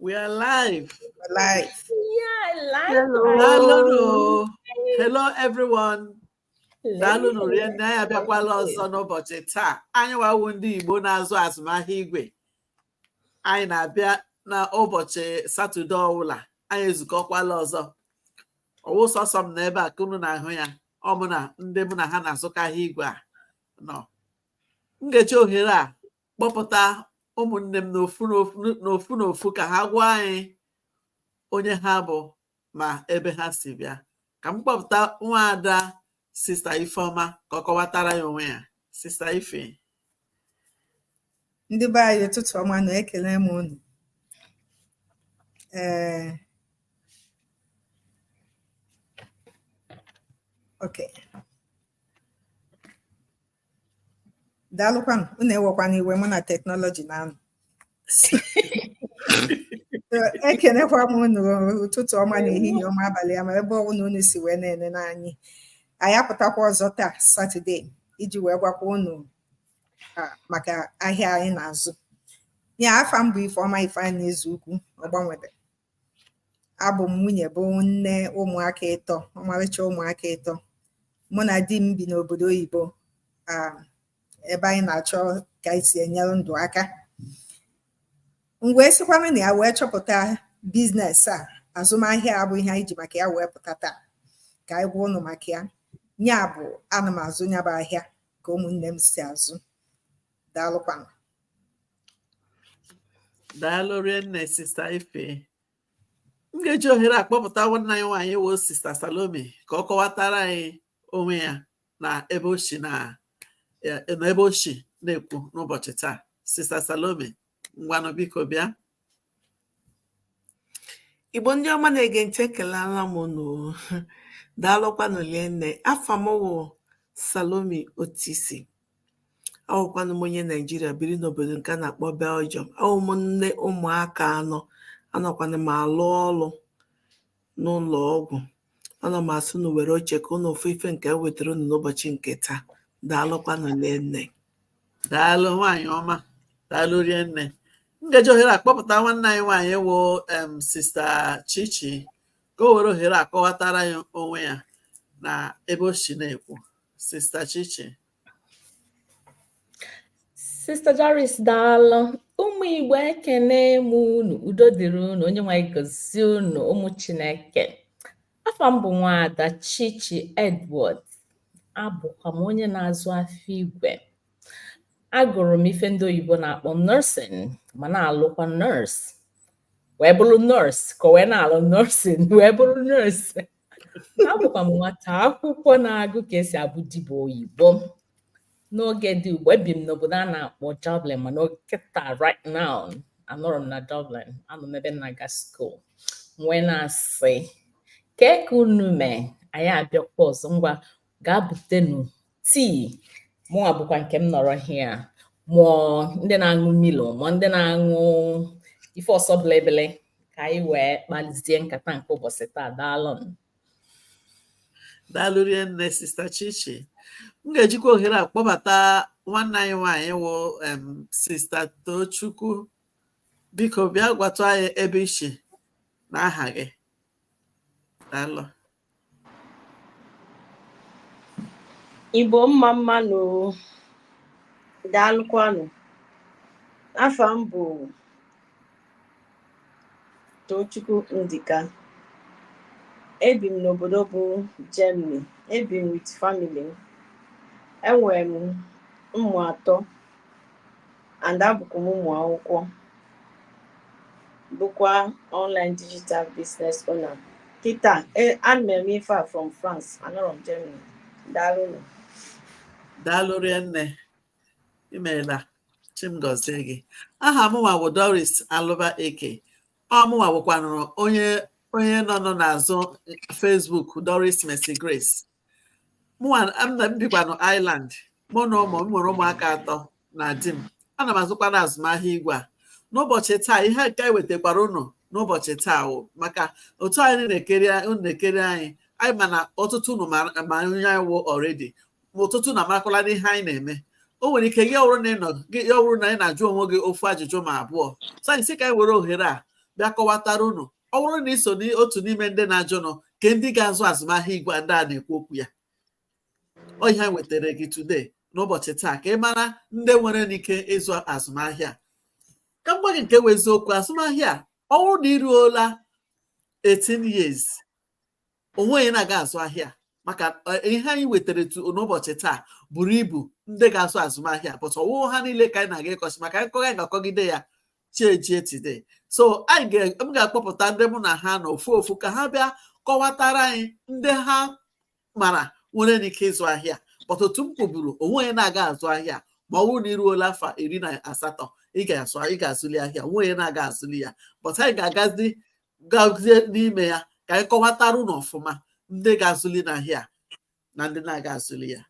We are live. We're live. Yeah, live. Hello. Hello. Hello, everyone. daalụnụ rienne anyị abịakwala ọzọ n'ụbọchị taa anyị wa wụ ndị Igbo na-azụ azụmahịa igwe anyị na-abịa n'ụbọchị satọde ọwụla anyị ezukọkwala ọzọ ọ wụ sọsọ m nọ ebe a ka unu na-ahụ ya ọ mụ na ndị mụ na ha na-azụkọ ahịa igwe a nọ m ga-eji ohere a kpọpụta ụmụnne m n'ofu n'ofu ka ha gwa anyị onye ha bụ ma ebe ha si bịa ka m kpọpụta nwaada sista Ifeọma ka ọ kọwatara anyị onwe ya sista ife ndị be anyị ụtụtụ ọma nụ ekelee m unu ee ok daalụkwanụ unu ewekwana iwe mụ na teknọlọji na-anụ ekenekwa m unu ụtụtụ ọma na ehihie ọma abalị ọma ebe ọbụla unu si wee na-enene anyị anyị apụtakwa ọzọ taa satọde iji wee gwakwa unu maka ahịa anyị na-azụ ee afa m bụ Ifeọma Ifeanyị Ezeukwu Ọgbanwebe abụ m nwunye bụ nne ụmụaka ịtọ ọmarịcha ụmụaka ịtọ mụ na di m bi n'obodo oyibo um, ebe anyị na-achọ ka anyị si enyere ndụ aka m wee sikwanụ na ya wee chọpụta biznes a azụmahịa a bụ ihe anyị ji maka ya wee pụta taa ka anyị gwa ụnụ maka ya nya bụ ana m azụ nya bụ ahịa ka ụmụnne m si azụ daalụkwanụ daalụ rienne sista Ife m ga-eji ohere a kpọpụta nwanne anyị nwaanyị wụ sista Salome ka ọ kọwatara anyị onwe ya na ebe o si na ebe o si na-ekwu n'ụbọchị taa sista Salome ngwanụ biko bịa Igbo ndị ọma na-ege ntị ekelala m unu daalụkwanụ lienne afa m wụ Salome Otisi awụkwanụ m onye Naijiria biri n'obodo nke a na-akpọ Belgium awụ m nne ụmụaka anọ anọkwanụ m alụ ọlụ n'ụlọ ọgwụ ana m asị ụnụ were oche ka ụnụ fụ ife nke e wetara ụnụ n'ụbọchị nke taa daalụkwanụ lienne daalụ nwaanyị ọma daalụ rienne m ga-eji ohere a kpọpụta nwanne anyị nwaanyị wụ em sista Chichi ka o were ohere a kọwatara anyị onwe ya na ebe o si na-ekwu sista Chichi Sista Doris daalụ ụmụ Igbo ekene m unu udo dịrị unu Onyenweanyị gozie unu ụmụ Chineke afa m bụ nwada Chichi Edward abụkwa m onye na-azụ afịa igwe agụrụ m ife ndị oyibo na-akpọ nursing ma na-alụkwa nurse wee bụrụ nurse ka wee na-alụ nursing wee bụrụ nurse abụkwa m nwata akwụkwọ na-agụ ka esi abụ dibịa oyibo n'oge dị ugbu a, ebi m n'obodo a na-akpọ Dublin mana kịta right now anọrọ m na Dublin anọ m ebe m na-aga school m wee na-asị kee ka unu mee anyị abịakwa ọzọ ngwa gaa butenu Tea, mụnwa bukwa nke m nọrọ here ma ọ ndị na-aṅụ Milo ma ọ ndị na-aṅụ ife ụsọ bilibili ka anyị wee kpalizie nkata nke ụbọchị taa daalụ daalụ rinne sista chichi m ga-ejikwa ohere a kpọbata nwanne anyị nwaanyị wụ sista tochukwu biko bịa gwatụ anyị ebe i shi na aha gị daalụ igbo mma mma nụ daalụkwanụ afa m bụ Tochukwu Ndika ebi m n'obodo bụ Germany ebi m with family enwere m ụmụ atọ and abụkwa m ụmụ akwụkwọ bụkwa online digital business owner kịta e, ana m eme ife a from France anọrọ m Germany daalụ nụ daalụ rinne imeela Chi m gozie gị aha mụnwa bụ doris alụba eke ọ mụnwa bụkwanụrụ onye onye nọ nọ n'azụ Facebook doris mercy grace m bikwa na Ireland mụ na ụmụ m nwere ụmụaka atọ na di m ana m azụkwa na azụmahịa igwe a n'ụbọchị taa ihe nke anyị wetakwara unu n'ụbọchị taa wụ maka otu anyị na-ekiri unu na-ekiri anyị anyị ma na ọtụtụ unu ma onye anyị wụ already ma ọtụtụ unu amarakwala ihe anyị na-eme o nwere ike ya ọ wụrụ na ị nọ gị ya ọ wụrụ na ị na-ajụ onwe gị ofu ajụjụ ma abụọ so anyị sị ka anyị were ohere a bịa kọwatara unu ọ bụrụ na i so n'otu n'ime ndị na-ajụ na ọ kee ndị ga-azụ azụmahịa igwe ndị a na-ekwu okwu ya ọ ihe anyị wetara gị today n'ụbọchị taa ka ị mara ndị nwere n'ike ịzụ azụmahịa ka m gwa gị nke wụ eziokwu azụmahịa ọ bụrụ na i ruola 18 years o nweghị na-aga azụ ahịa maka eh, ihe anyị wetara n'ụbọchị taa buru ibu ndị ga-azụ azụmahịa but ọ wụghị ha niile ka anyị na-aga ịkọsị maka anyị kọga ga-akọgide ya chi ejie today so anyị m ga-akpọpụta ndị mụ na ha nọ ofu ofu ka ha bịa kọwatara anyị ndị ha mara nwere n'ike ịzụ ahịa but otu m kwuburu o nweghị onye na-aga azụ ahịa ma ọ bụrụ na iruola afọ iri na asatọ ị ga-azụli ahịa o nweghị onye na-aga azụli ya but anyị ga-agazi gazie n'ime ya ka anyị kọwatara ụnụ ọfụma ndị ga-azụli n'ahịa na ndị na-aga azụli ya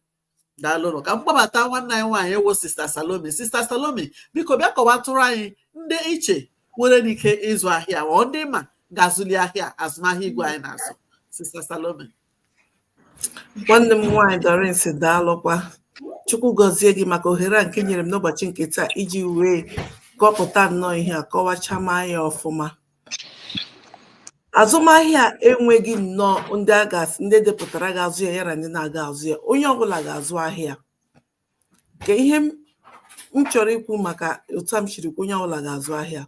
daalụnụ ka m kpọbata nwanne anyị nwaanyị wụ sista Salome sista Salome biko bịa kọwatụrụ anyị ndị i che nwere n'ike ịzụ ahịa or ndị ị ma ga-azụli ahịa azụmahịa igwe anyị na-azụ sista Salome nwanne m nwaanyị Doris daalụkwa chukwu gọzie gị maka ohere a nke i nyere m n'ụbọchị nke taa iji wee kọpụta nnọọ ihe a kọwacha m anya ọfụma azụmahịa enweghị nnọọ ndị e depụtara ga-azụ ya ya na ndị na-aga azụ ya onye ọbụla ga-azụ ahịa ka ihe m chọrọ ikwu maka otu m siri kwuo onye ọbụla ga-azụ ahịa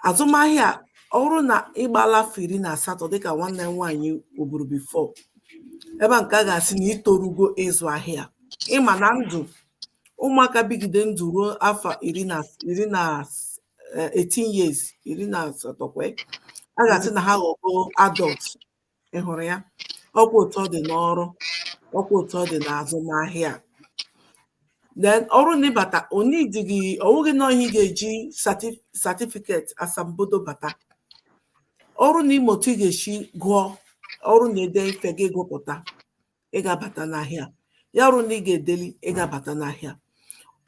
azụmahịa ọ bụrụ na ị gbaala afọ iri na asatọ dịka nwanne m nwaanyị kwuburu before ebe a nke a ga-asị na i torugo ịzụ ahịa ị ma na ndụ ụmụaka bigide ndụ ruo afọ iri na eh, 18 years iri na asatọ ọkwa ya. a ga-asị na ha aghọgo adult ị hụrụ ya ọkwa otu ọ dị n'ọrụ ọkwa otu ọ dị n'azụmahịa a. then ọ wụrụ na ị bata onwedịghị ọwụghị na ihe ị ga-eji sati- certificate asambodo bata ọ wụrụ na ị ma otu ị ga-esi gụọ ọ wụrụ na e dee ife gị agụpụta ị ga-abata n'ahịa ya wụrụ na ị ga-edeli ị ga-abata n'ahịa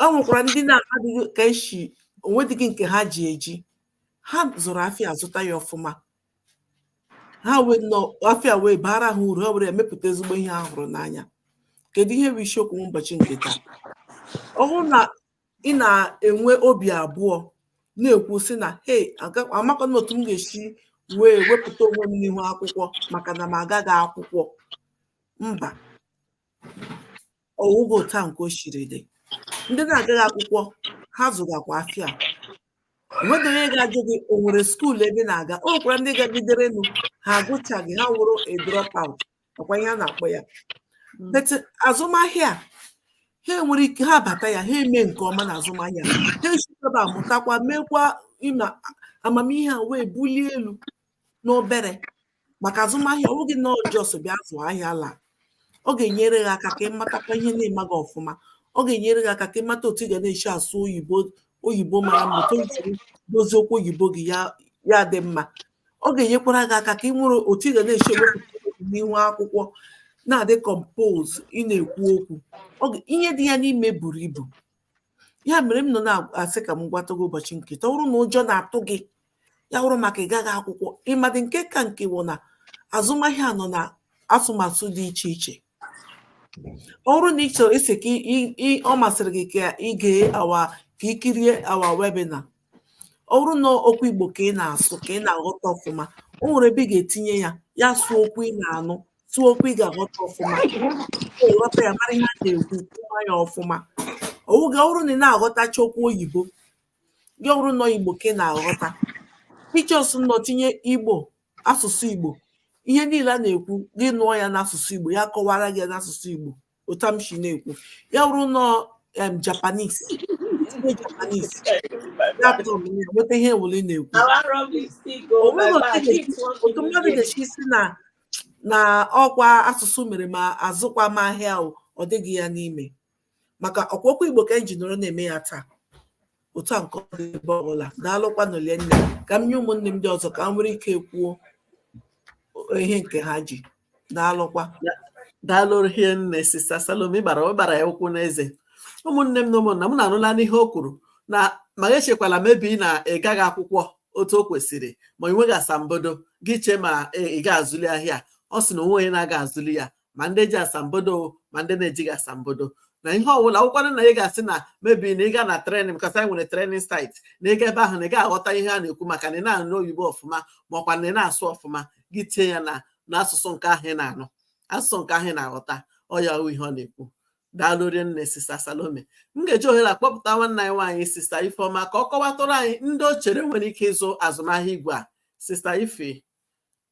o nwekwara ndị na-adịghị ka esi onwedịghị nke ha ji eji ha zụrụ afịa zụta ya ọfụma ha wee nọ afịa wee baara ha uru ha were emepụta ezigbo ihe ha hụrụ n'anya kedu ihe bụ isiokwu ụbọchị nke taa ọ wụrụ na ị na-enwe obi abụọ na-ekwu sị na hey amakwa na otu m ga-esi wee wepụta onwe m n'ihu akwụkwọ maka na m agaghị akwụkwọ mba ọwụghị otu a nke o siri dị ndị na-agaghị akwụkwọ ha zụgakwa afịa enweghị onye ga-ajụ gị o nwere school ebe na-aga o nwekwara ndị gagiderenụ ha agụchaghị ha wụrụ a drop out ọkwa ihe a na-akpọ ya mm. but azụmahịa ha nwere ike ha bata ya ha eme nke ọma na azụmahịa ha esite ebe a amụtakwa meekwa ịma amamihe ha wee bulie elu n'obere maka azụmahịa ọ bụghị na ọ just bịa zụọ ahịa laa ọ ga-enyere gị aka ka ị matakwa ihe ị na-amaghị ọfụma ọ ga-enyere gị aka ka ị mata otu ị ga na-esi asụ oyibo oyibo mara mma otu i si dozie okwu oyibo gị ya dị mma ọ ga-enyekwara gị aka ka ị nwere otu ị ga na-esi ewepụta n'ihu akwụkwọ na-adị compose ị na-ekwu okwu ihe dị ya n'ime buru ibu ya mere m nọ na-asị ka m gwata gị ụbọchị nke taa ọ bụrụ na ụjọ na-atụ gị ya wụrụ maka ịgaghị akwụkwọ ịmadị nke ka nke wụ na azụmahịa a nọ na asụsụ dị iche iche ọ wụrụ na ị chọrọ isi ka ọ masịrị gị ka ị gee our ka i kirie our webinar ọ bụrụ na okwu Igbo ka ị na-asụ ka ị na-aghọta ọfụma o nwere ebe ị ga-etinye ya ya sụọ okwu ị na-anụ sụọ okwu ị ga-aghọta ọfụma ghọta ya mara ihe a na-ekwu kwuwa ya ọfụma ọ bụrụ na ị na-aghọtacha okwu oyibo gị ọ bụrụ nọ Igbo ka ị na-aghọta ị just nọ tinye Igbo asụsụ Igbo ihe niile a na-ekwu gị nụọ ya n'asụsụ Igbo ya kọwara gị ya n'asụsụ Igbo otu m si na-ekwu ya wụrụ nọ em Japanese tinye Japanese ya tọm ya nweta ihe ọwụla a na-ekwu o nwere otu ga- otu mmadụ ga-esi sị na na ọkwa asụsụ mere ma azụkwa m ahịa o, ọ dịghị ya n'ime maka ọkwa okwu igbo ka anyị ji nọrọ na-eme ya taa otu a nke ọ dị ebe ọbụla daalụkwanụ hie nne ka m nye ụmụnne m ndị ọzọ ka ha nwere ike kwuo ihe nke ha ji daalụkwa daalụ hie nne sista Salome ịgbara ịgbara ya ụkwụ n'eze ụmụnne m na ụmụnna m unu anụlanụ ihe o kwuru na ma echekwala maybe na ị gaghị akwụkwọ otu o kwesịrị ma ị nweghị asambodo gị chee ma ị ga-azụli ahịa ọ sị na o nwe onye na-aga azụli ya ma ndị ji asambodo ma ndị na-ejighị asambodo na ihe ọbụla wụkwanụ na ị ga-asị na maybe na ị ga na training because anyị nwere training site na ịga ebe ahụ na ị ga-aghọta ihe a na-ekwu maka na ị na-anụ oyibo ọfụma ma ọkwa na ị na-asụ ọfụma gị tinye ya na n'asụsụ nke ahụ ị na-anụ asụsụ nke ahụ ị na-aghọta ọ ya ihe ọ na-ekwu daalụ nne sista salome m ga-eji ohere a kpọpụta nwanne anyị nwaanyị sista ifeọma ka ọ kọwatụrụ anyị ndị o chere nwere ike ịzụ azụmahịa igwe a sista ife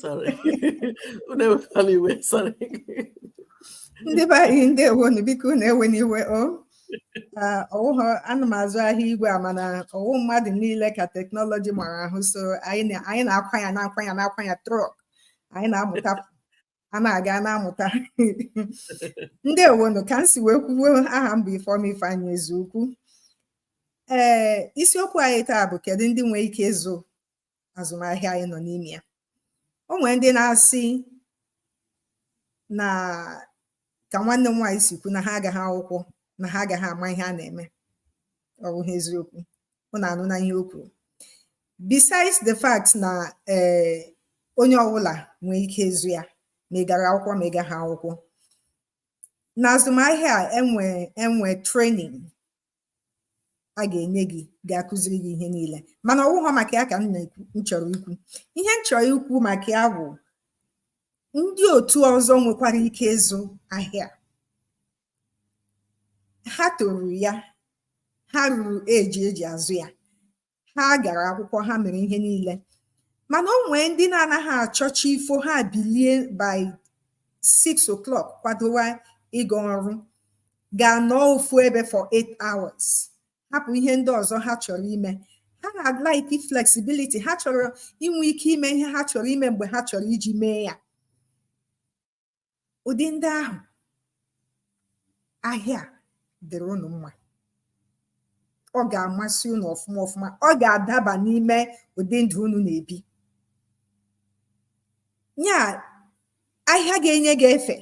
sorry unu ewekwala iwe sorry ndị be anyị ndeewonu biko unu ewena iwe o Ah, ọwụghọ ana m azụ ahịa igwe a mana ọwụ mmadụ niile ka technology mara ahụ so anyị na- anyị na-akwa ya na-akwa ya na-akwa ya truck anyị na-amụta a na-aga na-amụta ndeewonu ka m si wee kwuo aha m bụ Ifeoma Ifeanyi Ezeukwu ee isiokwu anyị taa bụ kedu ndị nwere ike ịzụ azụmahịa anyị nọ n'ime ya o nwere ndị na-asị na ka nwanne m nwaanyị si kwu na ha agaghị akwụkwọ na ha agaghị ama ihe a na-eme ọ bụghị eziokwu unu anụna ihe o kwuru besides the fact na ee eh, onye ọbụla nwee ike ịzụ ya ma ị gara akwụkwọ ma ị gaghị akwụkwọ n'azụmahịa a e nwe e nwe training a ga-enye gị ga-akụziri gị ihe niile mana ọ wụghọ maka ya ka m na m chọrọ ikwu ihe m chọrọ ikwu maka ya bụ ndị otu ọzọ nwekwara ike ịzụ ahịa ha toru ya ha ruru eji eji azụ ya ha gara akwụkwọ ha mere ihe niile mana o nwee ndị na-anaghị achọ chi fo ha bilie by 6 o'clock kwadowa ịga ọrụ ga nọọ ofu ebe for 8 hours hapụ ihe ndị ọzọ ha chọrọ ime ha na-like flexibility ha chọrọ inwe ike ime ihe ha chọrọ ime mgbe ha chọrọ iji mee ya ụdị ndị ahụ ahịa dịrị unu mma ọ ga-amasị unu ọfụma ọfụma ọ ga-adaba n'ime ụdị ndụ unu na-ebi ya ahịa ga-enye gị efe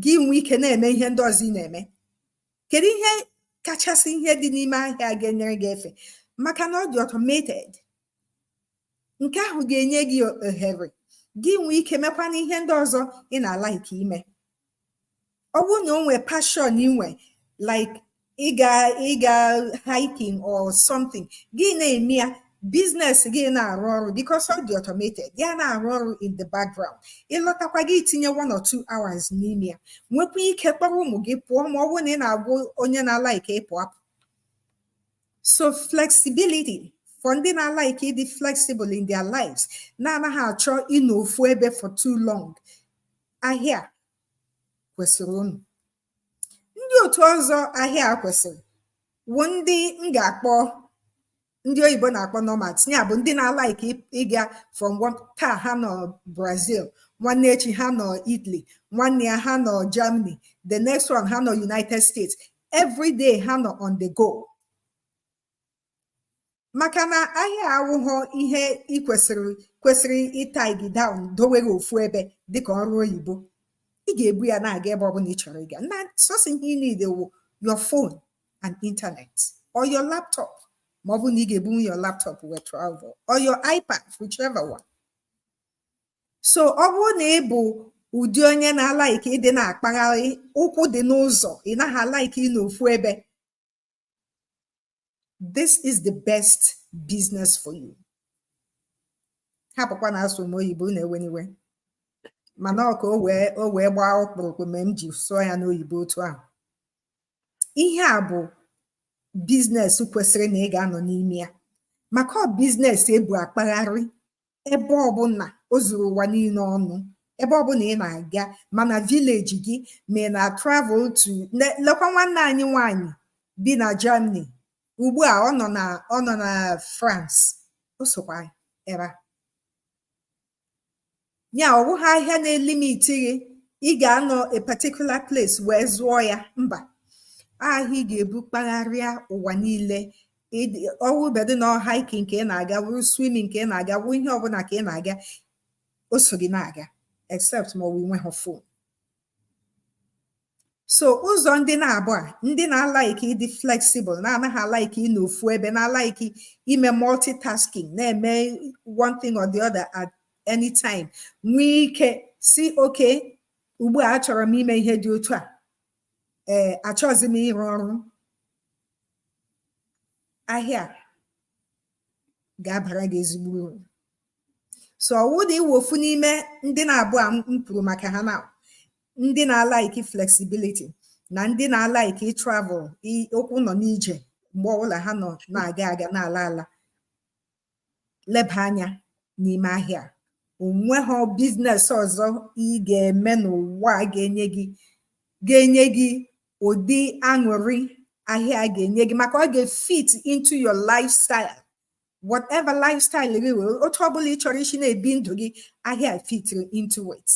gị nwee ike na-eme ihe ndị ọzọ ị na-eme kedu ihe kachasị ihe dị n'ime ahịa ga-enyere gị efe maka na ọ dị automated nke ahụ ga-enye gị ohere gị nwee ike mekwana ihe ndị ọzọ ị na-like ime ọ bụrụ na o nwee passion i nwe like ịga ịga hiking or something gị na-eme ya business gị na-arụ ọrụ because ọ dị automated ya na-arụ ọrụ in the background ị lọtakwa gị itinye one or two hours n'ime ya nwekwa ike kpọrọ ụmụ gị pụọ ma ọ bụrụ na ị na-awụ onye na-like ịpụ apụ so flexibility for ndị na-like ịdị flexible in their lives na-anaghị achọ ịnọ ofu ebe for too long ahịa kwesịrị unu ndị otu ọzọ ahịa kwesịrị wụ ndị m ga-akpọ ndị oyibo na-akpọ nomads ya bụ ndị na-alaiki ịga from one taa ha nọ brazil nwanne echi ha nọ italy nwanne ya ha nọ germany the next one ha nọ united states every day ha nọ on the go maka na ahịa awụghọ ihe ị kwesịrị kwesịrị ịtie gị down dowe gị ofu ebe dịka ọrụ oyibo ị ga-ebu ya na-aga ebe ọbụla ị chọrọ ịga na sọsọ ihe ị need wụ your phone and internet or your laptop ma ọ bụrụ na ị ga-ebu your laptop wee travel or your iPad whichever one so ọ bụrụ na ị bụ ụdị onye na-alaiki ịdị na-akpagharị ụkwụ dị n'ụzọ ị naghị alaiki ịnọ ofu ebe this is the best business for you hapụkwa na asụ m oyibo unu ewena iwe mana ọ ka o wee o wee gbaa ọkpụrụkpụ mee m ji sụọ ya n'oyibo otu ahụ ihe a bụ biznes kwesịrị na ị ga-anọ n'ime ya maka ọ biznes ebu akpagharị ebe ọbụla o zuru ụwa niile ọnụ ebe ọbụla ị na-aga ma na vileji gị ma ị na-travel to le- lekwa nwanne anyị nwanyị bi na Germany ugbu a ọ nọ na ọ nọ na France o sokwa ebe a ya ọ bụghị ahịa na-elimiti gị ị ga-anọ a particular place wee zụọ ya mba ahịa ị ga-ebu kpagharịa ụwa niile ọwụbedị na hiking ka ị na-aga wụrụ swimming ka ị na-aga wụ ihe ọbụla ka ị na-aga o so gị na-aga except ma ọ bụ i nweghị fon so ụzọ ndị naabọ a ndị na-alaiki ịdị flexible na-anaghị alaiki ịnọ ofu ebe na-alaiki ime multitasking na-eme one thing or the other at any time nwee ike sị okay ugbu a achọrọ m ime ihe dị otu a ee achọghịzi m ịrụ ọrụ ahịa ga-abara gị ezigbo uru so ọ wụ na ị wụ ofu n'ime ndị naabọ a m kwuru maka ha na ndị na-alaiki flexibility na ndị na-alaiki travel ụkwụ nọ n'ije mgbe ọbụla ha nọ na-aga aga na-ala ala leba anya n'ime ahịa o nweghị biznes ọzọ ị ga-eme n'ụwa ga-enye gị ga-enye gị ụdị aṅụrị ahịa ga-enye gị maka ọ ga-fit into your lifestyle whatever lifestyle gị were otu ọbụla ị chọrọ isi na-ebi ndụ gị ahịa fitiri into it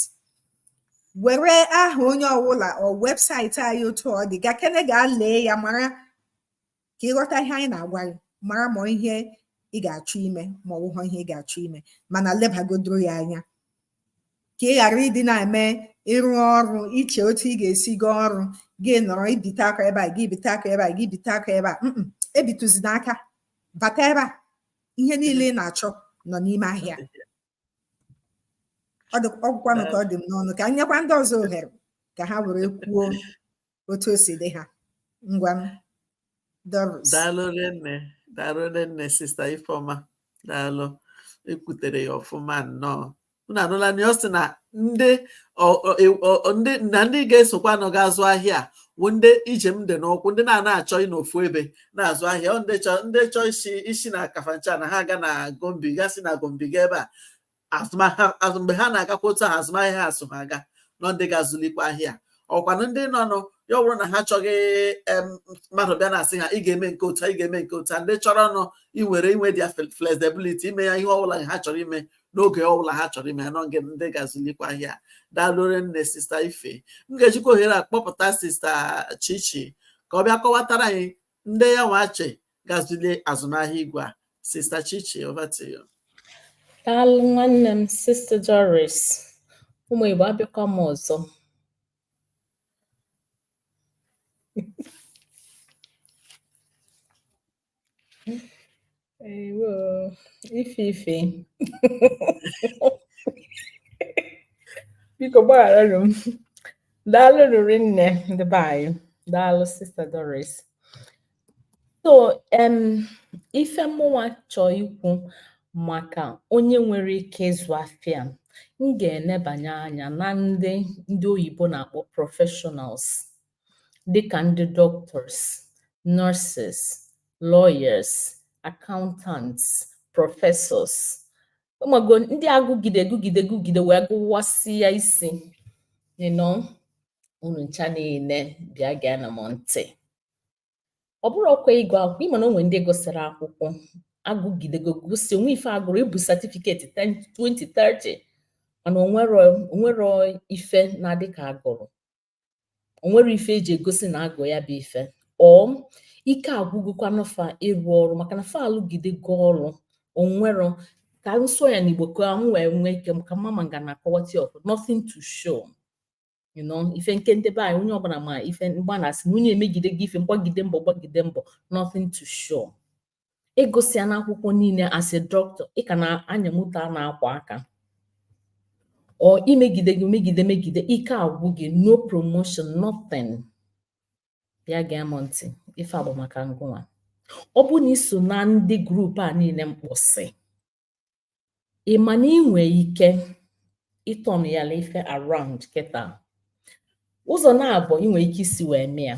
were aha onye ọbụla ọ webụsaịtị anyị otu ọ dị gakene ga lee ya mara ka ị ghọta ihe anyị na-agwa gị mara ma ihe ị ga-achọ ime ma ọ bụghị ihe ị ga-achọ ime mana lebagodoro ya anya ka ị ghara ịdị na-eme ịrụ ọrụ iche otu ị ga-esi gaa ọrụ gị nọrọ ibite aka ebe a gị bite aka ebe a gị bite aka ebe a ebitụzina aka bata ebe a ihe niile ị na-achọ nọ n'ime ahịa ọ gwụkwanụ ka ọ dị m n'ọnụ ka m nyekwa ndị ọzọ ohere ka ha were kwuo otu o si dị ha ngwa m Doris daalụ nne daalụ nne sista Ifeoma daalụ i kwutere ya ọfụma nnọọ unu anụla na ọ sị na ndị ọ- ọ- e- ọ- ọ- ndị na ndị ga-esokwanụ ga-azụ ahịa a wụ ndị njem dị n'ụkwụ ndị na-ana achọ ịnọ ofu ebe na-azụ ahịa ọ ndị chọ ndị chọ isi isi na Kafanchan na ha ga na Gombe ga si na Gombe ga ebe a azụmahịa azụ mgbe ha na-agakwa otu ahụ azụmahịa ha so ha aga na ọ ndị ga-azụlikwa ahịa ọkwanụ ndị nọ nọ ya ọ bụrụ na ha chọghị em, mmadụ bịa na-asị ha ị ga-eme nke otu a, ị ga-eme nke otu a ndị chọrọnụ ị nwere inwe their flexibility ime ya ihe ọbụla ha chọrọ ime n'oge ọbụla ha chọrọ ime ya nọ na ndị ga-azụlikwa ahịa daalụ rinne sista ife m ga-ejikwa ohere a kpọpụta sista chichi ka ọ bịa kọwatara anyị ndị ya nwa che ga-azụli azụmahịa igwe a sista chichi over to you. daalụ nwanne m sista Doris ụmụ Igbo abịakwa m ọzọ Ewo, ife ife. Biko gbagharanụ m. Daalụ riri nne ndị be anyị. Daalụ Sista Doris. So, em, ife mụnwa chọọ ikwu maka onye nwere ike ịzụ afịa m ga-enebanye anya na ndị ndị oyibo na-akpọ professionals dịka ndị doctors, nurses, lawyers, accountants, professors ị mago ndị agụgide gụgide gụgide wee gụwasịa isi you know unu ncha niile bịa geenụ m ntị ọ bụrọkwa ịgụ akwụkwọ ị ma na o nwee ndị gụsịrị akwụkwọ agụgidego sị o nwee ife a gụrụ i bu certificate 20 30 mana o nwerọ ife na-adị ka a gụrụ o nwerọ ife e ji egosi na a gụ ya bụ ife or ike agwụgokwanụ fa ịrụ ọrụ maka na fa alụgidego ọrụ o nwerọ ka m sụọ ya n'igbo ka m wee nwee ike ka mama m ga na-akọwata okwu nothing to show you know ife nke ndị be anyị onye ọbụla ma ife m gba na-asị na onye emegidego ife gbagide mbọ gbagide mbọ nothing to show ị gụsịanụ akwụkwọ niile as a doctor ị ka na-anya moto a na-akwa aka or i megidego megide megide ike agwụ gị no promotion nothing bịa gee m ntị ife a bụ maka ngụnwa ọ bụ na i so na ndị group a niile m kpọsị ị ma na i nwee ike ịturn your life around kịta ụzọ naabọ i nwee ike isi wee mee ya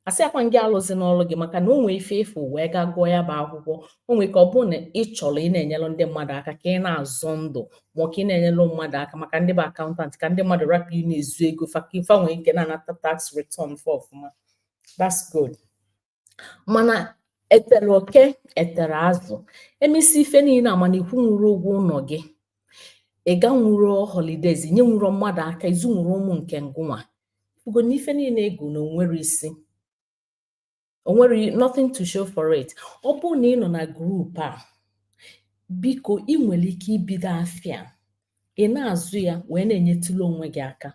asịrọkwa gị alụzina ọrụ gị maka na o nwee ife ị fụ wee gaa gụọ ya bụ akwụkwọ o nwee ike ọ bụrụ na ị chọrọ ịna-enyere ndị mmadụ aka ka ị na-azọ ndụ ma ọ ka ị na-enyere mmadụ aka maka ndị bụ accountant ka ndị mmadụ rapụ ịna-ezu ego fa ka fa nwee ike na-anata tax return fa ọfụma that's good mana e tere oke e tere azụ e mesịa ife niile a mana ị kwụnwurọ ụgwọ ụlọ gị ị ganwurọ holidays nyenwurọ mmadụ aka ị zụnwurọ ụmụ nke ngụnwa Ị fụgo na ife niile ị gụ na o nwerọ isi o nwerọ nothing to show for it ọ bụrụ na ị nọ na group a biko ị nwere ike ibido afịa a na-azụ ya wee na-enyetụla onwe gị aka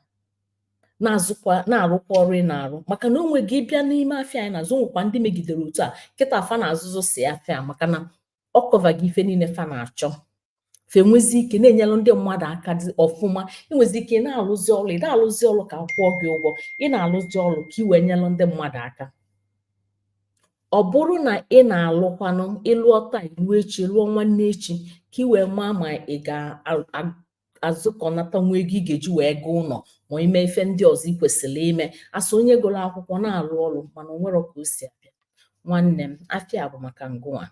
na-azụkwa na-arụkwa ọrụ ị na-arụ maka na onwe gị bịa n'ime afịa anyị na-azụ nwekwa ndị megidere otu a kịta fa na-azụzị sọ afịa maka na ọ kọvago ife niile fa na-achọ fa enwezi ike na-enyelụ ndị mmadụ aka ọfụma ị nwezi ike na-alụzi ọrụ ị da-alụzi ọrụ ka akwụọ gị ụgwọ ị na-alụzi ọrụ ka ị wee nyere ndị mmadụ aka ọ bụrụ na ị na-alụkwanụ ị lụọ taa ị lụọ echi lụọ nwanne echi ka ị wee maa ma ị ga azụkọnata nwa ego ị ga-eji wee goo ụlọ ma ime ife ndị ọzọ ị kwesịrị ime as onye gụrụ akwụkwọ na-alụ ọrụ mana o nwere ka o si abịa nwanne m afịa bụ maka ngịnwa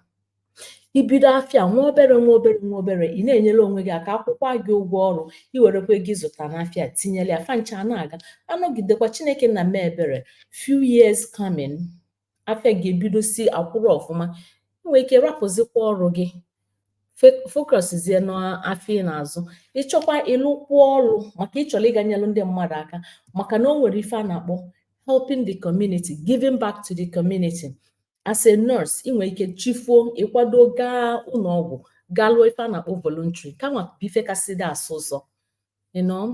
i bido afịa nwa obere nwa obere nwa obere ị na-enyere onwe gị aka akwụkwaa gị ụgwọ ọrụ i werekwa ego ị zụta n'afịa tinyere ya fancha na-aga anọgidekwa chineke nna mee ebere few years coming afịa gị ebidozie akwụrụ ọfụma ị nwee ike rapụzikwa ọrụ gị focuszie n'afịa ị na-azụ ị chọkwa ịlụkwu ọrụ maka ị chọrọ ịga nyelụ ndị mmadụ aka maka na o nwere ife a na-akpọ helping the community giving back to the community as a nurse ị nwere ike chi foo ị kwado gaa ụlọ ọgwụ gaa lụọ ife a na-akpọ voluntary kanwa bụ ife kasị dị asọ ụsọ you know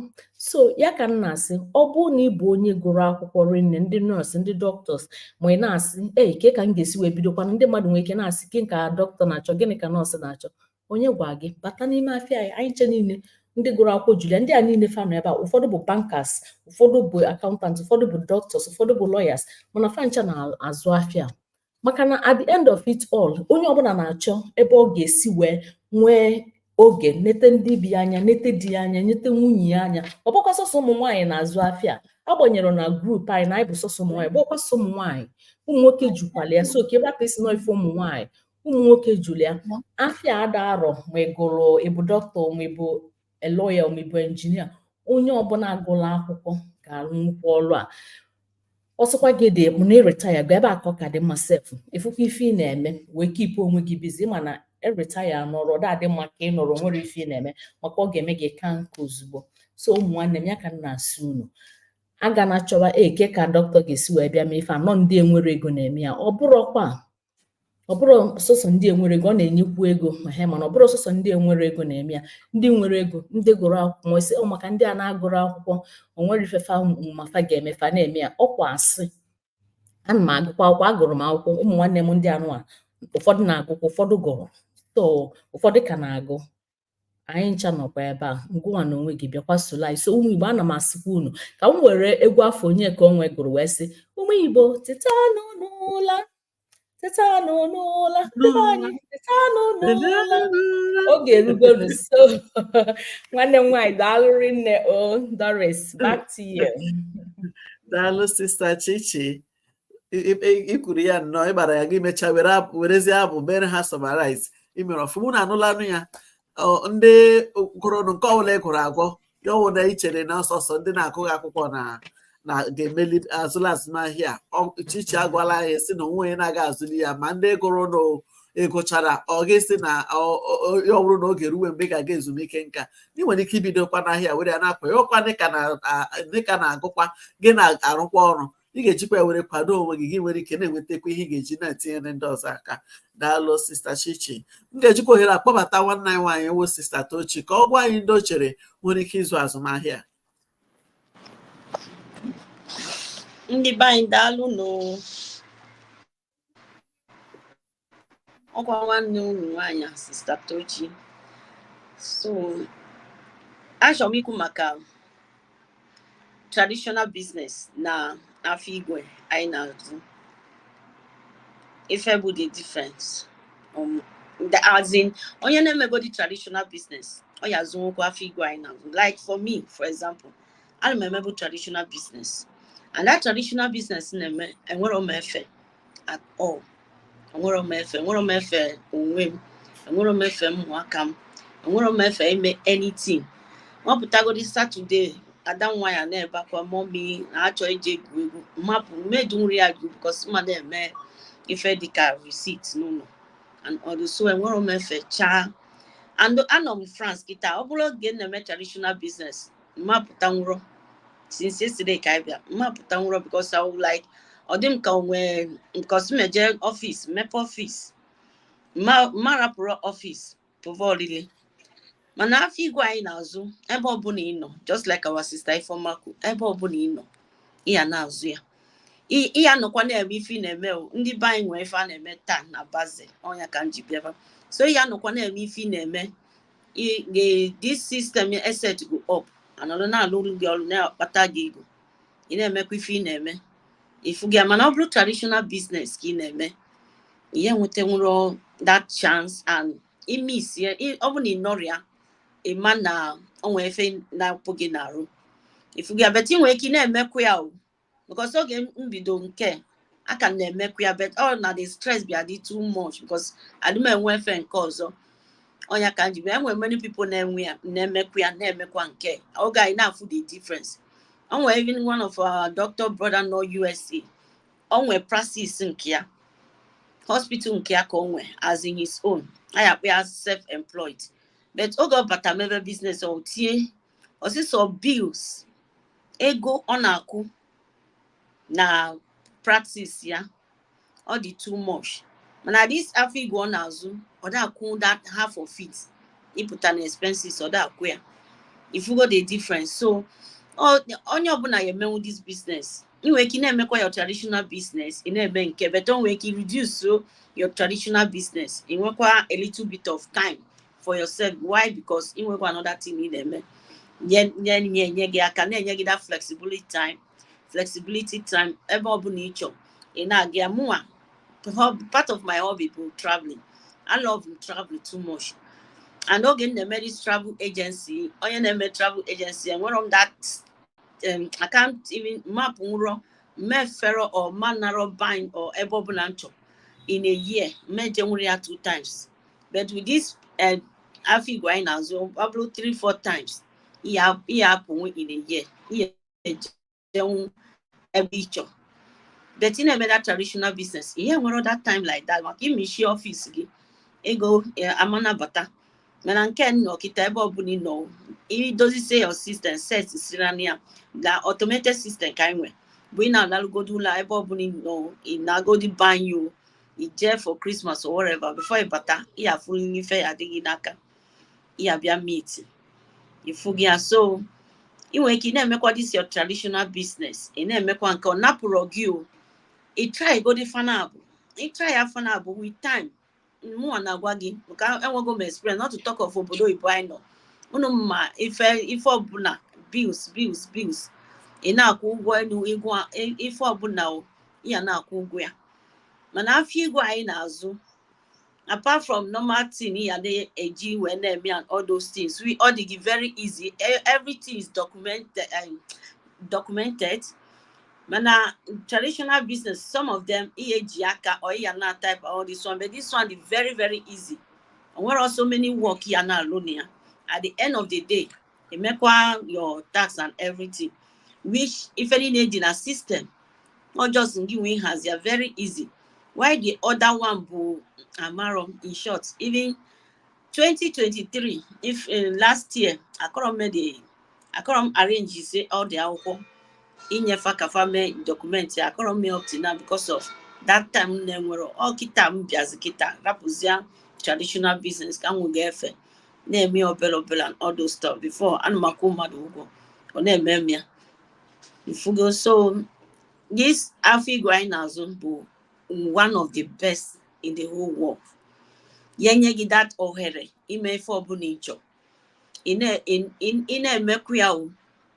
so ya ka m na-asị ọ bụrụ na ị bụ onye gụrụ akwụkwọ rinne ndị nọọsụ ndị doctors ma ị na-asị ee kee ka m ga-esi wee bidokwana ndị mmadụ nwere ike na-asị gịnị ka dọkịta na-achọ gịnị ka nọọsụ na-achọ onye gwa gị bata n'ime afịa anyị anyị ncha niile ndị gụrụ akwụkwọ julu ya ndị a niile fa nọ ebe a ụfọdụ bụ bankers ụfọdụ bụ accountant ụfọdụ bụ doctors ụfọdụ bụ lawyers mana fancha na-azụ afịa maka na at the end of it all onye ọbụla na-achọ ebe ọ ga-esi wee nwee oge nete ndị be ya anya nete di ya anya nete nwunye ya anya ọ bụrọkwa sọsọ ụmụ nwaanyị na-azụ afịa agbanyere na group anyị na anyị bụ sọsọ ụmụ nwaanyị ọ bụrọkwa sọsọ ụmụ nwaanyị ụmụ nwoke jukwalu ya so ka a rapụ ịsị na ọ ife ụmụ nwaanyị ụmụ nwoke julu ya afịa ada arọ ma ị gụrụ ị bụ dọkịta ma ị bụ a lawyer ma ị bụ engineer onye ọbụla gụrụ akwụkwọ ga-arụ nnukwu ọrụ a ọ sọkwa gị dị mụ na ị retirego ebe a ka ọ ka dị mma sef ị fụkwa ife ị na-eme wee keepụ onwe gị busy ị ma na ị retire nọrọ ọ dị mma ka ị nọrọ nwere ife ị na-eme maka ọ ga-eme gị kaa nka ozugbo so ụmụ nwanne m ya ka m na-asị unu agana achọwa ee kee ka dọkịta ga-esi wee bịa mee ife a na ọ ndị enwerọ ego na-eme ya ọ bụrọkwa ọ bụrọ sọsọ ndị enwerọ ego ọ na-enyekwu ego ehe mana ọ bụrọ sọsọ ndị enwerọ ego na-eme ya ndị nwere ego ndị gụrụ akwụkwọ ị sị ọ maka ndị a na-agụrọ akwụkwọ o nwerọ ife fa ma fa ga-eme fa na-eme ya okwu asị ana m agụkwa akwụkwọ agụrụ m akwụkwọ ụmụ nwanne m ndị a nụwa ụfọdụ na-agụkwa ụfọdụ gụrụ so ụfọdụ ka na-agụ anyị ncha nọkwa ebe a ngịnwa na onwe gị bịakwa solu anyị so ụmụ igbo ana m asịkwa unu ka m were egwu afụ Onyeka Onwenu gụrụ wee sị ụmụ igbo tetanụ n'ụla tetanụ n'ụla anyị tetanụ n'ụla oge erugonu so nwanne m nwaanyị daalụ rinne o Doris back to you daalụ sista chichi i kwuru ya nnọọ ị gbara ya gị mechaa werezie abụ mere ha summarize i mere ọfụma na anụlanụ ya ndị gụrụnụ nke ọbụla ị gụrụ agwọ ya ọ wụ na i chere na ọ sọsọ ndị na-agụghị akwụkwọ na na ga-emeli azụli azụmahịa chichi agwala anyị sị na onwe onye na-aga azụli ya ma ndị gụrụ na ịgụchara ọ gị si na ọ bụrụ na oge ruwe mgbe ị ga-aga ezumike nka ị nwere ike ibidokwa n'ahịa were ya na-apụ ya ụkwa dịka na-agụkwa gị na-arụkwa ọrụ ị ga-ejikwa ya were kwado onwe gị gị nwere ike na-enwetakwa ihe ị ga-eji na-etinyere ndị ọzọ aka daalụ sista chichi m ga-ejikwa ohere a kpọbata nwanne anyị nwaanyị wụ sista tochi ka ọ gwa anyị ndị o chere nwere ike ịzụ azụmahịa ndị be anyị daalụ nụ ọkwa nwanne unu nwaanyị sista Tochi so achọrọ m ikwu maka traditional business na afịa igwe anyị na-azụ ife bụ the difference um, the, as in onye na-emegodi traditional business ọ ya azụnwukwu afịa igwe anyị na-azụ like for me for example ana m emebu traditional business and that traditional business na-eme enwerọ m efe at all enwerọ m efe enwerọ m efe onwe m enwerọ m efe ụmụaka m enwerọ m efe ime anything ma pụtagodi Saturday ada m nwaanyị na-ebe akwa mummy na-achọ ije egwuregwu mapụ m ma edunwurọ ya gụ because ma na-eme ife dịka receipt n'ụlọ and all those so enwerọ m efe chaa and anọ m france kịta ọ bụrụ oge na-eme traditional business m ma apụtanwurọ since yesterday ka anyị bịa m ma apụtanwurọ because I would like ọ dị m ka onwe because m je office mepe office m ma arapụrọ office pụva olili mana afịa igwe anyị na-azụ ebe ọbụla ị nọ just like our sister Ifeoma kwu ebe ọbụla ị nọ ị ya na-azụ ya ị ya nọkwa na-eme ife ị na-eme o ndị be anyị nwere ife a na-eme taa na Basel ọnya ka m ji bịaba so ị ya nọkwa na-eme ife ị na-eme this system e set go up anọrọ na-alụlụ gị ọrụ na-akpata gị ego ị na-emekwa ife ị na-eme ị fụgo ya mana ọ bụrụ traditional business ka ị na-eme ị ya enwetanwurọ that chance and ị miss ya ọ bụ na ị nọrọ ya ị ma na o nwe ife na-apụ gị n'arụ ị fụgo ya but ị nwere ike ị na-emekwa ya o because oge m bido nke a aka m na-emekwa ya but ọ na the stress bịa dị too much because adị m enwe efe nke ọzọ ọnya ka m ji e nwe many people na-enwe ya na-emekwa ya na-emekwa nke oge a ị na-afụ the difference o nwe even one of our doctor brother nọ USA o nwe practice nke ya hospital nke ya ka o nwe as in his own a ya akpọ ya self-employed but oge ọ bata mebe business o tinye ọsịsọ bills ego ọ na-akwụ na practice ya ọ dị too much mana this afịa igwe ọ na-azụ ọ da-akwụ that half of it ịpụta na expenses ọ da-akwụ ya ị fụgo the difference so onye ọbụla ya-emenwu this business ị nwere ike ị na-emekwa your traditional business ị na-eme nke a but ị nwere ike reduce your traditional business ị nwekwa a little bit of time for yourself why because ị nwekwa another thing ị na-eme nye nye nye nye gị aka na-enye gị that flexibility time flexibility time ebe ọ bụla ị chọọ ị na-aga ya mụnwa hob- part of my hobby bụ traveling I love travel too much and oge m na-eme this travel agency onye na-eme travel agency enwerọ m that um, I can't even m apụnwurọ mefere or manarọ bine or ebe ọbụla m chọrọ in a year m ejenwurọ ya two times but with this eh, afịa igwe anyị na-azụ ọ bụrụ 3 4 times ị ya-apụnwu in a year ị ya-ejenwu ebe ị chọ but ị na-eme that traditional business ị nwerọ that time like that maka ị mechie office gị ego eh, ama na-abata mana nke m nọ kịta ebe ọbụla ị nọ ị dozisie your system set siri na ya na automated system ka anyị nwere bụ ị na-alalụgodu ụla ebe ọbụla ị nọ ị nagodi be anyị o ị je for Christmas or whatever before ị bata ị ya-afụ na ife ya-adị gị n'aka ị ya-abịa meet ị fụgo ya so ị nwere ike ị na-emekwa this your traditional business ị na-emekwa nke a ọ napụrọ gị o ị try godi fa naabọ ị try ya fa naabọ with time mụnwa na-agwa gị maka enwego m experience not to talk of obodo oyibo anyị nọ unu ma ife ife ọbụla bills bills bills ị na-akwụ ụgwọ elu ife ọbụla ị ya na-akwụ ụgwọ ya mana afịa igwe anyị na-azụ apart from normal thing ị ya na-eji wee na-eme and all those things we all dị gị very easy e, everything is documented um, documented mana traditional business some of them ị ya-eji aka or ị ya na-type all this one but this one dị very very easy e nwerọ so many work ị ya na-alụ na ya at the end of the day emekwa your tax and everything which ife niile dị na system ọ just gịnwa ịhazi ya very easy while the other one bụ amarọ in short even 2023 if uh, last year akọrọ m the akọrọ m arrange-sie all the akwụkwọ inye fa ka fa mee document ya akọrọ m eme up to now because of that time na-enwerọ ọ kịta m bịazi kịta rapụzia traditional business ka m nwega efe na-eme ya obele obele and all those stuff before ana m akwụ mmadụ ụgwọ ọ na-eme m ya ị fụgo so this afịa igwe anyị na-azụ bụ one of the best in the whole world ya-enye gị that ohere ime ife ọbụla ị chọ ị na-emekwu ya o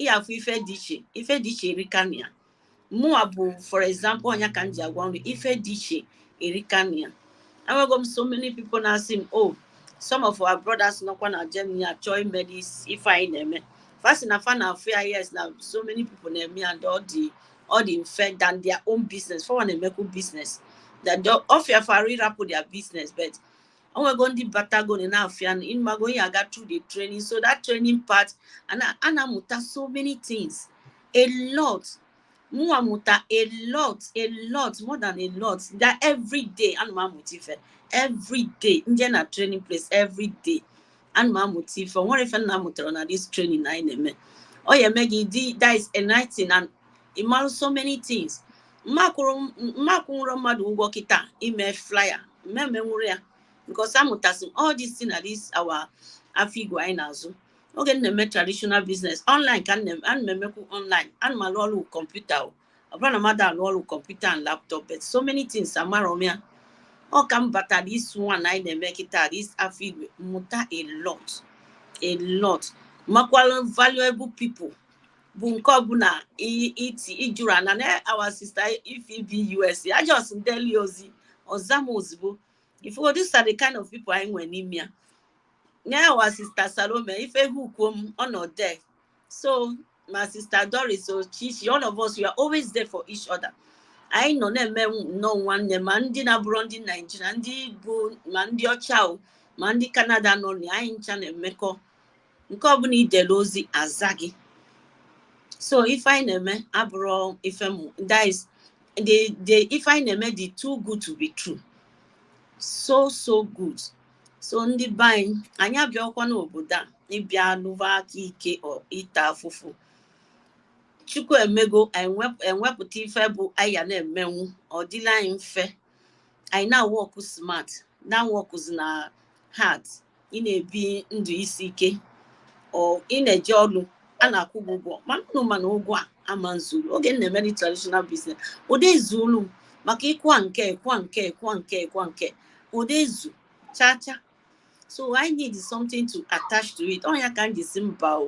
ị ya-afụ ife dị iche ife dị iche erika na ya mụwa bụ for example ọ nya ka m ji agwa ụnụ ife dị iche erika na ya enwego m so many people na-asị m oh some of our brothers nọkwa na Germany achọ ime this ife anyị na-eme fa sị na fa na-afụ ya yes na so many people na-eme ya ndị ọ dị ọ dị mfe than their own business fanwa na-emekwu business that ọ fịa fa arụ ịrapụ their business but o nwego ndị batagonụ n'afịa ị mago ọ ya-aga through the training so that training part a na-amụta so many things a lot mụnwa mụta a lot a lot more than a lot that every day ana m amụta ife every day m je na training place every day ana m amụta ife o nwere ife m na-amụtarọ na this training anyị na-eme ọ ya-eme gị dị that is enlightening and ị marụ so many things m ma akwụnwụrụ mmadụ ụgwọ kịta ime flyer m emenwuru ya because amụtasị all this thing na this our afịa igwe anyị na-azụ oge m na-eme traditional business online ka ana m emekwu online ana m alụ ọlụ kọmputa ọ bụrọ na m adị alụ ọlụ kọmputa and laptop but so many things amarọ m ya ọ ka m bata this one anyị na-eme kịta this afịa igwe m mụta a lot a lot makwara valuable people bụ nke ọbụla ị jụrụ ya na our sister Ify bi US a just deli ozi ọ za m ozugbo ị fụ these are the kind of people anyị nwere n'ime ya na our sister salome ife ha ukwuo m ọ nọ there so ma sister doris ochichi all of us we are always there for each other anyị nọ na-eme nnọọ nwanne ma ndị na-abụrọ ndị naijiria ndị bụ ma ndị ọcha o ma ndị kanada nọ na ya anyị ncha na-emekọ nke ọbụla ị dere ozi a zaa gị so ife anyị na-eme abụrọ ife mụ that is the the ife anyị na-eme dị too good to be true so so good so ndị be anyị anyị abịarọkwa n'obodo a ịbịa lụva aka ike or ịta afụfụ chukwu emego anyị wep- enwepụta ife bụ anyị ya na-emenwu ọ dịlị anyị mfe anyị na-awork smart na-aworkzina hard ị na-ebi ndụ isi ike or ị na-eje ọlụ a na-akwụ gị ụgwọ mana ụnụ mana ụgwọ a ama ezuru oge m na-emeri traditional business ọ dị ezulu m maka ịkwa nke ịkwa nke ịkwa nke ịkwa nke ọ dị ezu chaa chaa so i need something to attach to it ọ ya ka m ji sị mba o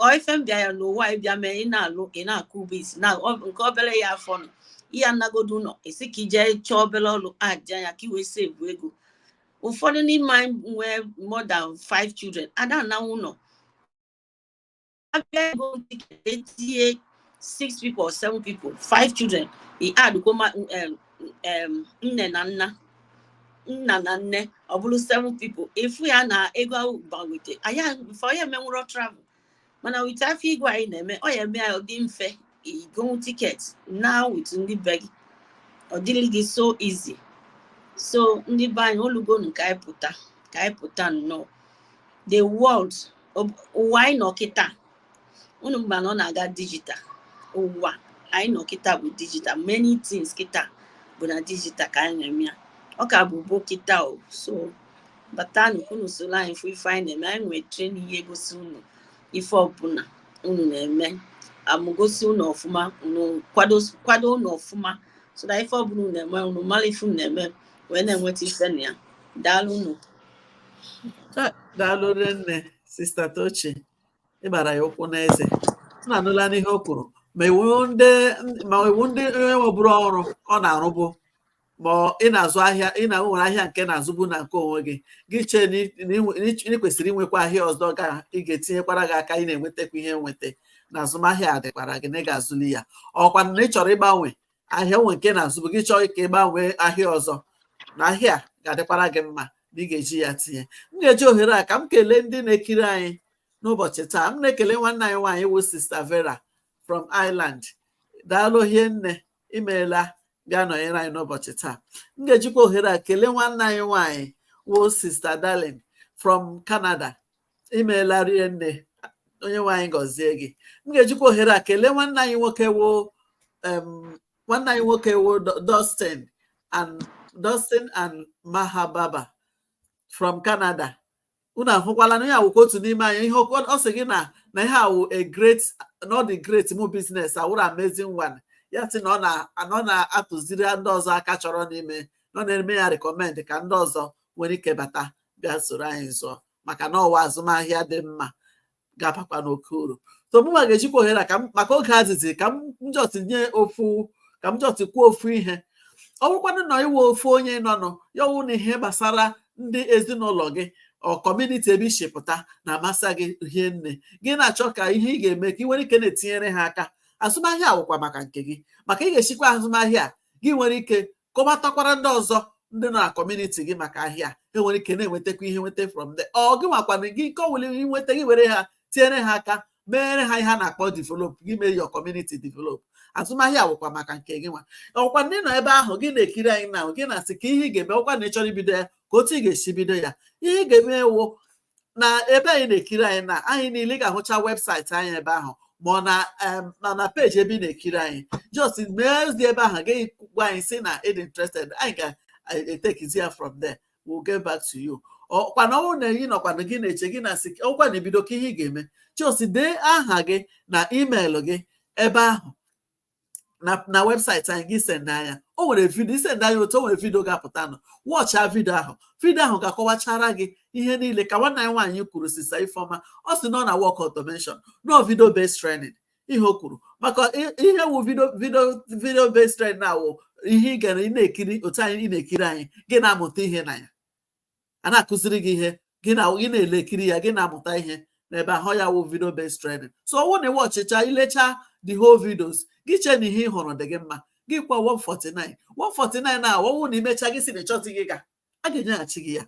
ọ ife m bịara n'ụwa ịbịa mee ị na-alụ ị na-akwụ bills na nke obere ya afọ nọ ị ya-anagodu ụlọ ị sị ka i je chọọ obere ọrụ aja ya ka i wee save ego ụfọdụ n'ime anyị nwee more than five children ada ananwụ ụlọ abịa go etinye six people or seven people five children i addkwuo ma um, um, nne na nna nna na nne ọ bụrụ seven people ị fụ ya na ego ahụ gbanwete anya before ya emenwụrọ travel mana with afọ igwe anyị na-eme ọ ya-eme ya ọ dị mfe i gonwu ticket naa with ndị be gị ọ dịrị gị so easy so ndị be anyị olugonu ka anyị pụta ka anyị pụta nnọọ the world ụwa anyị nọ kịta unu ma na ọ na-aga digital ụwa anyị nọ kịta bụ digital many things kịta bụ na digital ka anyị na-eme ya ọ ka bụ bụ kịta o so batanụ ka unu soro anyị fụ ife anyị na-eme anyị nwere training ihe gosi unu ife ọbụla unu na-eme a mụgosi unu ọfụma unu kwado unu ọfụma so that ife ọbụla unu na-eme unu mara ife unu na-eme wee na-enweta ife na ya daalụ unu daalụ rie nne sister Tochi ị gbara ya ụkwụ n'eze unu anụla n'ihe o kwuru ma ị wụ ndị ma ị wụ ndị onye nwebụrụ ọrụ ọ na-arụbụ ma ị na-azụ ahịa ị na nwere ahịa nke ị na-azụbu na nke onwe gị gị chee na ị- na ị nwe- na ị- na ị kwesịrị inwekwa ahịa ọzọ ga ị ga-etinyekwara gị aka ị na-enwetakwa ihe nweta na azụmahịa a dịkwara gị na ị ga-azụli ya ọ kwa na ị chọrọ ịgbanwe ahịa nwe nke ị na-azụbu gị chọọ ka ị gbanwee ahịa ọzọ na ahịa a ga-adịkwara gị mma na ị ga-eji ya tinye m ga-eji ohere a ka m kelee ndị na-ekiri anyị n'ụbọchị taa m na-ekele nwanne anyị nwaanyị wụ sister Vera from Ireland daalụ hie nne imeela bịa nọnyere anyị n'ụbọchị taa m ga-ejikwa ohere a kelee nwanne anyị nwaanyị wụ sister Darling from Canada imeela rie nne Onyenwe anyị gọzie gị m ga-ejikwa ohere a kelee nwanne anyị nwoke wụ nwanne anyị nwoke wụ Dustin and Dustin and Mahababa from Canada unu ahụkwala na ya wụkwa otu n'ime anyị ihe oke- ọ sị gị na na ihe a wụ a great na ọ dị great mụ business a wụrụ amazing one ya sị na ọ na na ọ na-atụziri ndị ọzọ aka chọrọ n'ime na ọ na-eme ya recommend ka ndị ọzọ nwere ike bata bịa soro anyị zụọ maka na ọ wụ azụmahịa dị mma ga-abakwa n'oke uru so mụnwa ga-ejikwa ohere a ka m maka oge azịzi ka m just nye ofu ka m just kwuo ofu ihe ọ bụkwanụ na ị wụ ofu onye nọnụ ya ọ wụ na ihe gbasara ndị ezinụlọ gị or community ebe i si pụta na-amasị gị hie nne gị na-achọ ka ihe ị ga-eme ka ị nwere ike na-etinyere ha aka azụmahịa a wụkwa maka nke gị maka ị ga-esikwa azụmahịa a, gị nwere ike kọwatakwara ndị ọzọ ndị na kọmuniti gị maka ahịa e nwere ike na-enwetakwa ihe nweta from there ọ gị nwakwana gị nke ọwụla i nweta gị were ha tinyere ha aka meere ha ihe a na-akpọ develop gị mee your community develop azụmahịa wụkwa maka nke gị nwa ọwụkwa na ị nọ ebe ahụ gị na-ekiri anyị na gị na-asị ka ihe ị ga-eme ọwụkwa na ị chọrọ ibido ya ka otu ị ga-esi bido ya ihe ị ga-eme wụ na ebe anyị na-ekiri anyị na anyị niile ị ga-ahụcha webụsaịtị anyị ebe ahụ ma ọ na ma na peji ebe ị na-ekiri anyị just mee ozi ebe ahụ gị gwa anyị sị na ị dị interested anyị ga-etekizi ya from there we'll get back to you ọkwana ọwụ na ị nọkwana gị na-eche gị na-asị ọkwa na ebido ka ihe ị ga-eme just dee aha gị na email gị ebe ahụ na na webụsaịtị anyị gị send anyị ya o nwere vidio i send anyị ya otu o nwere vidio ga-apụta nụ wọchịa vidio ahụ vidio ahụ ga-akọwachara gị ihe niile ka nwanne anyị nwaanyị kwuru sista ifeọma ọ sị na ọ na work automation no video based training ihe o kwuru maka i- ihe wụ vidio vidio vidio based training na ọwụ ihe ị ga na-ekiri otu a ị na-ekiri anyị gị na-amụta ihe na ya a na-akụziri gị ihe gị na gị na-elekiri ya gị na-amụta ihe n'ebe ahụ ya wụ video based training so ọwụ na ịwọchịcha ilecha the whole videos gị chee na ihe ị hụrụ dị gị mma gị kwaa 149 149 na ọwụ na imecha gị sị na ị chọzighị ịga a ga-enyeghachi gị ya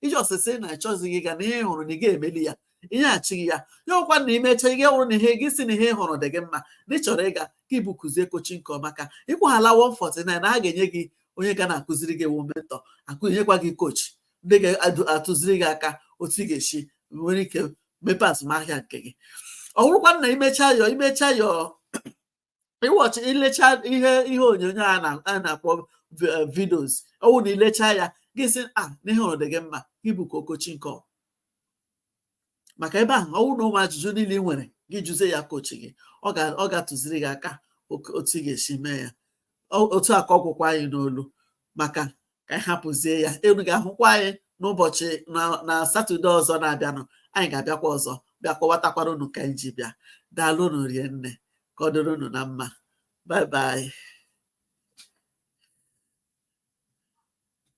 ị just sị na ị chọzighị ịga na ihe ị hụrụ na ị ga-emeli ya e nyeghachi gị ya ọwụkwa na imecha ya wụrụ na ihe gị sị na ihe ị hụrụ dị gị mma na ị chọrọ ịga gị bukuzie coaching call maka ị kwaala 149 na a ga-enye gị onye ga na-akụziri gị wụ mentọ e nyekwa gị kochi ndị ga-atụziri gị aka otu ị ga-esi nwere ike mepee azụmahịa nke gị ọ bụrụkwa na imecha your imecha your ịwọchị ilecha ihe ihe onyonyo a na-akpọ eh, vidios ọwụ na ilecha ya gị sị a ah, na ihe ị hụrụ dị gị mma gị bukuo coaching call maka ebe ahụ ọwụ na ụmụ ajụjụ niile ị nwere gị jụzie ya kochi gị ọ ga-atụziri gị aka otu ị ga-esi mee ya otu a ka ọ gwụkwa anyị n'olu maka ka anyị hapụzie ya unu ga-ahụkwa anyị n'ụbọchị na satọde ọzọ na-abịanụ anyị ga-abịakwa ọzọ bịa kọwatakwara unu ka anyị ji bịa daalụ unu rinne ka ọ dịrị unu na mma bye bye